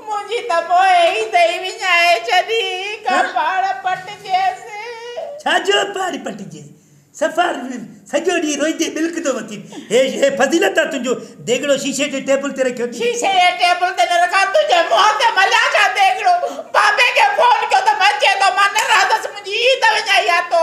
منهنجي ته پوء هي دئي وڃائي ڇڏي، ڪا پاڙ پٽجيس. ڇا جو پاڙ پٽجيس؟ صفا سڄو ڏينهن روئيندي ٻلڪندو وتين. هي هي فضيلت آ تنهنجو ديڳڙو شيشي جي ٽيبل تي رکيو اٿئي. شيشي جي ٽيبل تي نه رکان، تنهنجي منهن تي مليان ڇا ديڳڙو. بابي کي فون ڪيو ته مئن چئي ٿو مان نه رهندس، منهنجي هي ته وڃائي آ تو.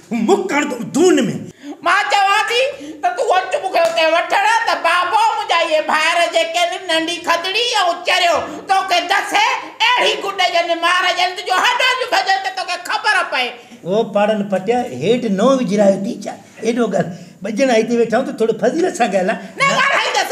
تون مون ڪڻ تون دون ۾. مان چوان ٿي ته تون اچ مون کي اتي وٺڻ ته بابو منهنجا اهي ڀائر جيڪي نه ننڍي کدڙي ۽ چريو تو کي دسي اهڙي گڏ ڄن مار ڄن تنهنجون هڏيون ٿيون ڀڄن ته تو کي خبر پئي. او پاڙن پٽيا هيٺ نو وجهرايو ٿي ڇا ايڏو ڳالهه ٻجهڻ آهي هتي ويٺا آهيون ته ٿورو فضيلت سان ڳالهاء. نه ڳالهائيندس.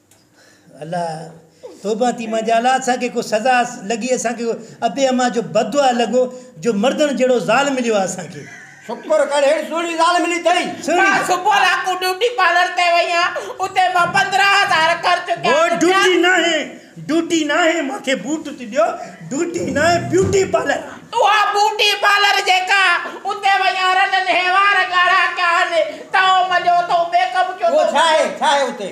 الله توبه ٿي مان جي الله اسان کي ڪو سزا لڳي اسان کي ابي اما جو بددعا لڳو جو مردڻ جهڙو زال مليو آ اسان کي. شڪر ڪر هيڙي سهڻي زال ملي ٿئي. مان صبح لاکون ڊيوٽي پارلر تي وئي هان اتي مان پندرهن هزار خرچ ڪيا هو ڊيوٽي ناهي ڊيوٽي ناهي مان کي بوٽ ٿي ڏيو ڊيوٽي ناهي بيوٽي پارلر آ. اها بوٽي پارلر جيڪا آ اتي وئي هان رنن هي وار ڳاڙها ڪيا هن تائو مليو اٿئون ميڪ اپ ڪيو اٿئون. اهو ڇا آهي ڇا آهي اتي.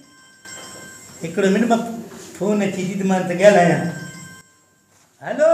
هڪڙو منٽ مان فون اچي ٿي ته مان ته ڳالهايان. هلو.